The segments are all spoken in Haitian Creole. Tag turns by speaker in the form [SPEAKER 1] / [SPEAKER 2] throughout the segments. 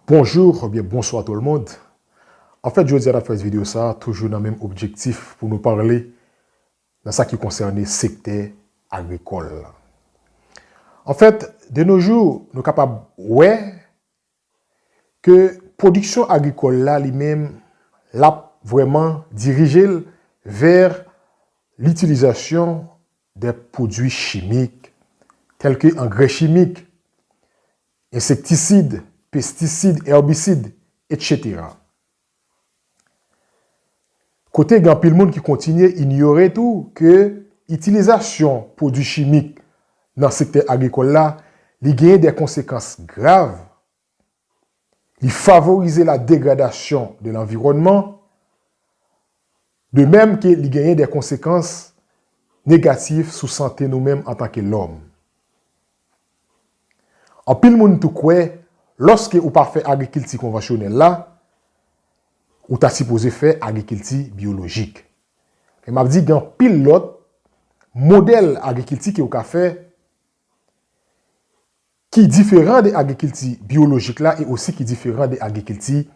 [SPEAKER 1] Bonjour ou byen bonswa tout le monde an fèt jodi a nap fè ti video sa toujou nan menm objektif pou nou parle nan sa ki konsène sektè agrikòl la an fèt de no jou nou kapab wè ke pwodiksyon agrikòl la li menm lap vrèman dirijel vè litilizasyon de pwodwi chimik tèlke angrè chimik Ensektisid, pestisid, èbisid, etc. Kote gen anpil moun ki kontinye inyore tou ke itilizasyon pwodwi chimik nan sektè agrikòl la, li genyen dè konsekans grav, li favorize la degradasyon de lanviwònman, De mèm ke li genyen de konsekans negatif sou sante nou menm antan ke lòm. Anpil moun tou kwè lòske ou pa fè agrikilti konvansyonèl la, ou ta sipoze fè agrikilti byolojik. Men m ap di gen anpil lòt modèl agrikilti ke ou ka fè ki diferan de agrikilti byolojik la e osi ki diferan de agrikilti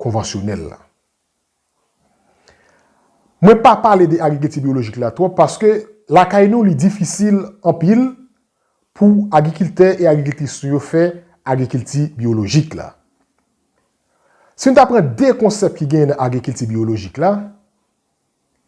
[SPEAKER 1] konvansyonèl la. Mwen pa pale de agrikilti byolojik la twòp paske lakay nou li difisil anpil pou agrikiltè e agrikiltris nou yo fè agrikilti byolojik la. Si nou ta pran 2 konsèp ki genyen nan agrikilti byolojik la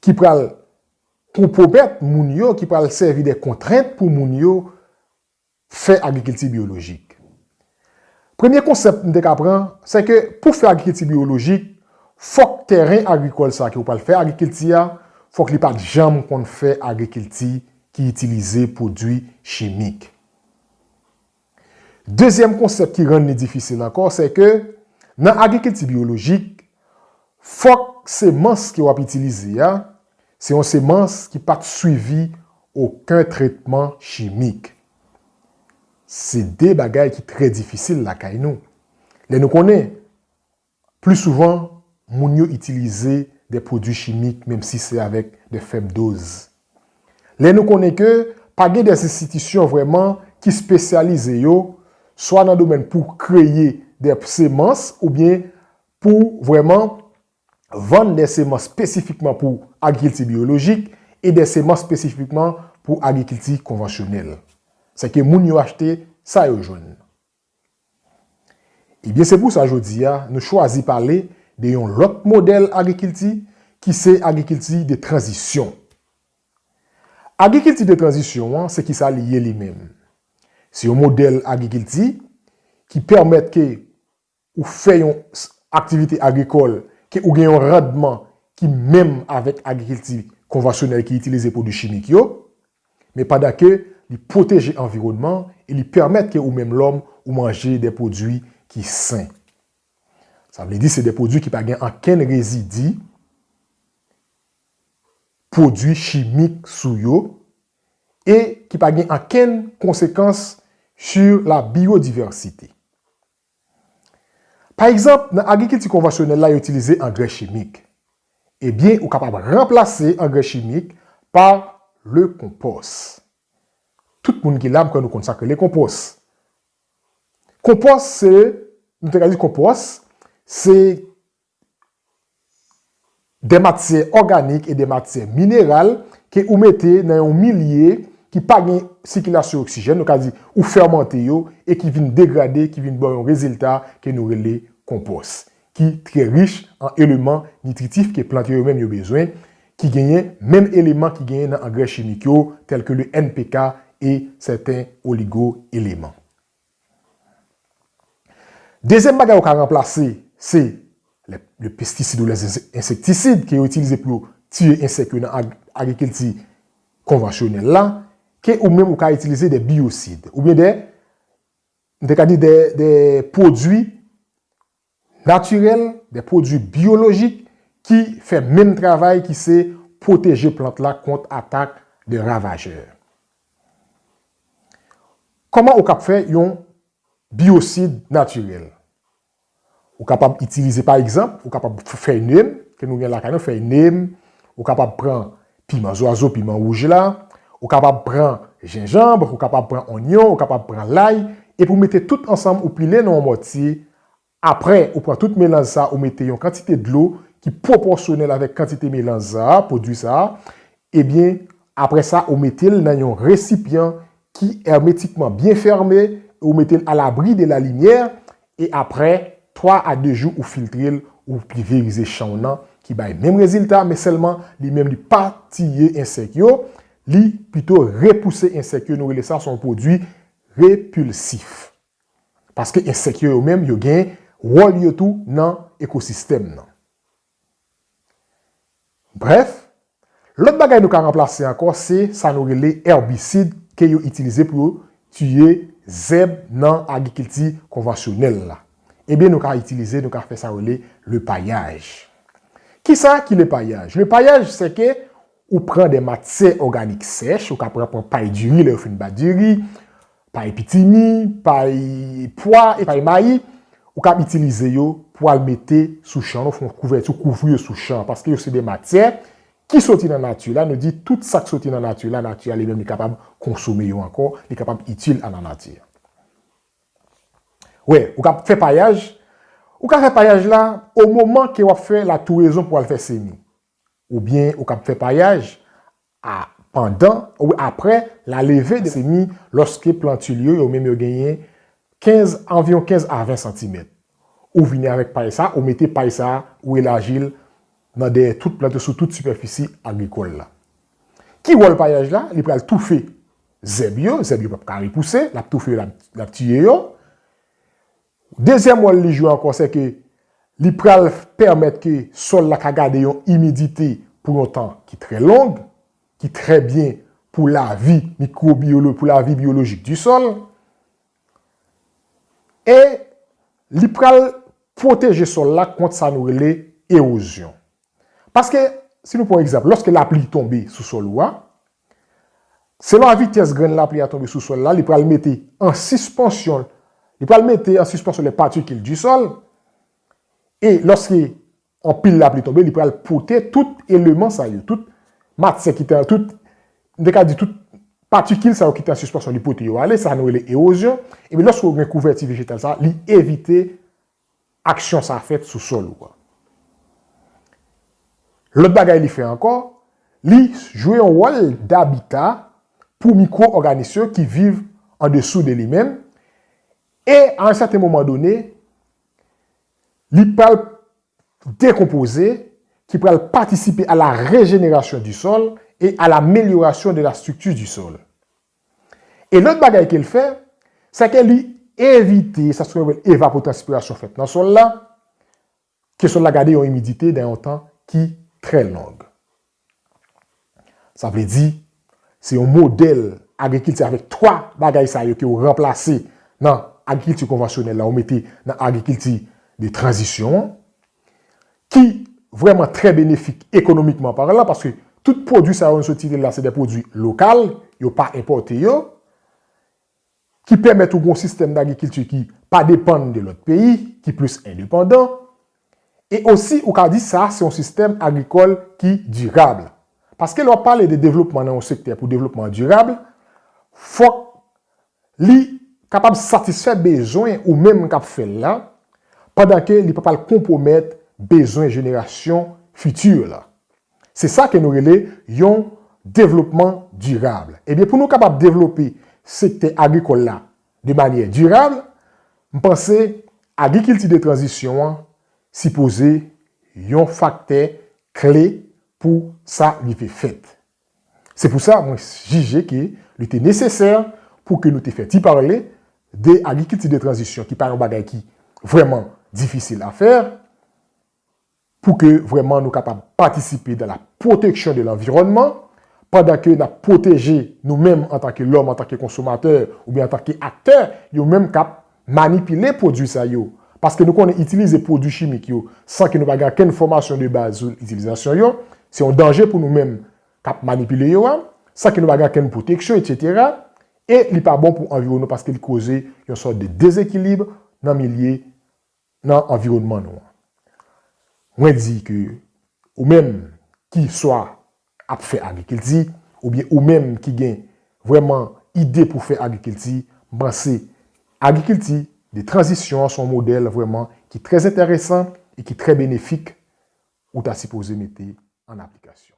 [SPEAKER 1] ki pral konpwomèt moun yo, ki pral sèvi de kontrent pou moun yo fè agrikilti biyolojik. Premye konsèp m te ka pran, sè ke pou fè agrikilti biyolojik, fòk tèren agrikòl sa ke ou pral fè agrikilti a, fòk li pat janm konn fè agrikilti ki itilize pwodui chimik. Dezyèm konsèp ki rann li difisil ankò, sè ke nan agrikilti biyolojik, fòk semans ke w ap itilize a, Se yon semans ki pa t swivi oken tretman chimik. Se de bagay ki trè difisil lakay nou. Lè nou konnen, pli souvan, moun yo itilize de pwodui chimik menm si se avèk de fèb doz. Lè nou konnen ke pa gen de enstitisyon vrèman ki spesyalize yo swa nan domèn pou kreye de semans oubyen pou vrèman vann de semans spesifikman pou agrikilti biyolojik e de semans spesifikman pou agrikilti konvansyonèl. Se ke moun yo achte sa yo jwenn. Ebyen se pou sa jodi a nou chwazi pale de yon lòt modèl agrikilti ki se agrikilti de tranzisyon. Agrikilti de tranzisyon an se ki sa li ye li menm? Se yon modèl agrikilti ki pèmèt ke ou fè yon aktivite agrikòl ke ou gen yon randman ki menm avèk agrikilti konvansyonèl ki itilize pwodui chimik yo, men pandan ke li pwoteje anviwònman an e li pèmèt ke ou menm lòm ou manje de pwodui ki sen. Sa vle di se de pwodui ki pa gen ankenn rezidi pwodui chimik sou yo e ki pa gen ankenn konsekans su la biyodivèsite. Pa egzanp, nan agrikilti konvansyonèl la yo itilize angrè chimik. Ebyen ou kapab ranplase angrè chimik pa le konpòs. Tout moun ki la m kwè nou konn sa k rele konpòs. Konpòs se, nou te ka di konpòs se Dè matyè òganik e dè matyè mineral ke ou mete nan yon milye ki pa gen sikilasyon oksijèn, nou ka di ou fèmante yo e ki vin degrade, ki vin baw yon rezilta ke nou rele konpòs. Ki trè rich an eleman nitritif ke plant yo yo menm yo bezwen, ki genyen menm eleman ki genyen nan angrè chimik yo, tèlke le NPK e sèten oligo eleman. Dezyèm bagay yo ka ranplase se le pestisid ou le ensektisid ke yo itilize pou yo tiye ensèk yo nan agrikilti konvansyonèl la ke ou menm ou ka itilize de biyosid oubyen de, m te ka di de pwodui Natirèl, de pwodui byolojik ki fè menm travay ki se pwoteje plant la kont atak de ravajè. Kòman ou kap fè yon biyosid natirèl? Ou kapab itilize pa egzanp, ou kapab pran fèy nem ke nou gen lakay nou, fèy nem, ou kapab pran piman zwazo, piman wouj la, ou kapab pran jenjanb, ou kapab pran onyon, ou kapab pran lay, epi ou mete tout ansanm ou pile nan yon mòtye Aprè ou pran tout melanj sa ou mete yon kantite dlo ki pwopòsyonèl avèk kantite melanj sa, pwodwi sa, ebyen aprè sa ou mete l nan yon resipyan ki èmetikman byen fème e ou mete l alabri de la limyè e aprè 3 a 2 jou ou filtre l ou pliverize chan w nan ki bay menm rezilta men sèlman li menm li pa tiye ensèk yo li pito repouse ensèk yo nou rele sa son pwodwi repulsif. Paske ensèk yo yo menm yo gen wòl yo tou nan ekosistèm nan. Brèf, lòt bagay nou ka ranplase ankò se sa nou rele èbisid ke yo itilize pou yo tiye zèb nan agrikilti konvansyonèl la. Ebyen nou ka itilize, nou ka fè sa yo rele le payaj. Kisa ki le payaj? Le payaj se ke ou pran de matyè òganik sèch, ou ka pran pay diri lè yo fin bat diri, Pay pitimi, pay pwa e pay mayi, ou kab itilize yo pou al mete sou chan ou, fè yon kouvèti ou kouvri yo sou chan an paske yo se de matyè ki soti nan nati la, nou di tout sa k soti nan nati la, nati a li menm li kapab konsome yo ankò, li kapab itil a la nati. Wè, ou kab fè payaj, ou ka fè payaj la o moman ke w ap fè latourezon pou al fè semi, oubyen ou kab fè payaj a pandan ou apre la leve de semi lòske plantil yo yo menm yo genyen 15 anviwon 15 a 20 santimèt ou vini avèk pay sa ou mete pay sa ou elaji l nan dèyè tout plant yo sou tout sipèfisi agrikòl la ki wòl payaj la li pral toufe zèb yo zèb yo pap ka repouse lap toufe yo lap tiye yo Dezyèm wòl li jwe ankò se ke li pral pèmèt ke sòl la ka gade yon imidite pou yon tan ki trè long, ki trè byen pou lavi mikwobiyolo, pou lavi biyolojik di sòl. E li pral pwoteje sòl la kont sa nou rele ewozyon. Paske, si nou pran yon egzanp, lòske lapli tonbe sou sòl ou a, Selon a vitès grenn lapli a tonbe sou sòl la, li pral mete an sispansyon li pral mete an sispansyon lè patikil di sòl e lòske anpil lapli tonbe li pral pote tout eleman sa yo, tout matyè ki te tout m te ka di tout patikil sa yo ki te an sispansyon li pote yo ale sa nou rele ewozyon epi lòske ou gen kouvèti vejetal sa li evite aksyon sa fèt sou sòl ou a. Lòt bagay li fè ankò, li jwe yon wòl dabita pou mikwo òganis yo ki viv an desou de li menm e a yon sèten moman done li pral dekonpoze ki pral patisipe a la rejenerasyon di sòl e a lamelyorasyon de la strikti di sòl. E lòt bagay ke l fè, sè ke li evite sa sou rele evapotranspirasyon fèt nan sòl la, ke sòl la gade yon imidite dan yon tan ki trè long. Sa vle di, se yon modèl agrikilti avèk 3 bagay sa yo ke ou ranplase nan agrikilti konvansyonèl la ou mete nan agrikilti de tranzisyon an. ki vrèman trè benefik ekonomikman parlan paske tout pwodui sa yo nou sot site la se dè pwodui lokal, yo pa enpòte yo, ki pèmèt ou gen yon sistèm dagrikilti ki pa depann de lòt peyi, ki plis endepandan, e osi ou ka di sa se yon sistèm agrikòl ki dirab. Paske lè w ap pale de devlopman nan yon sektè pou devlopman an dirab, fòk Li kapab satisfè bezwen ou menm k ap fè l la, pandan ke li pa pral konpwomèt bezwen jenerasyon fiti yo la. Se sa ke nou rele yon devlopman dirab. Ebyen pou nou kapab devlope sektè agrikòl la de manyè dirab, m panse agrikilti de tranzisyon an sipoze yon faktè kle pou sa rive fèt. Se pou sa mwen jije ke li te nesesè pou ke nou te fè ti pale de agrikilti de tranzisyon ki pa yon bagay ki vrèman difisil a fè pou ke vrèman nou kapab patisipe dan la pwoteksyon de lanviwònman pandan ke nap pwoteje nou menm antan ke lòm, antan ke konsomatè oubyen antan ke aktè yo menm kap manipile pwodui sa yo, paske nou konnen itilize pwodui chimik yo san ke nou pa gen ankenn fòmasyon de baz sou itilizasyon yo, se yon danje pou nou menm k ap manipile yo a, san ke nou pa gen ankenn pwoteksyon etsetera, e li pa bon pou anviwonman paske li koze yon sòt de dezekilib nan milye nan anviwònman nou an. Mwen di ke ou menm ki swa ap fè agrikilti oubyen ou menm ki gen vrèman ide pou fè agrikilti, m panse agrikilti de tranzisyon an se yon modèl vrèman ki trè enteresan e ki trè benefik ou ta sipoze mete an aplikasyon.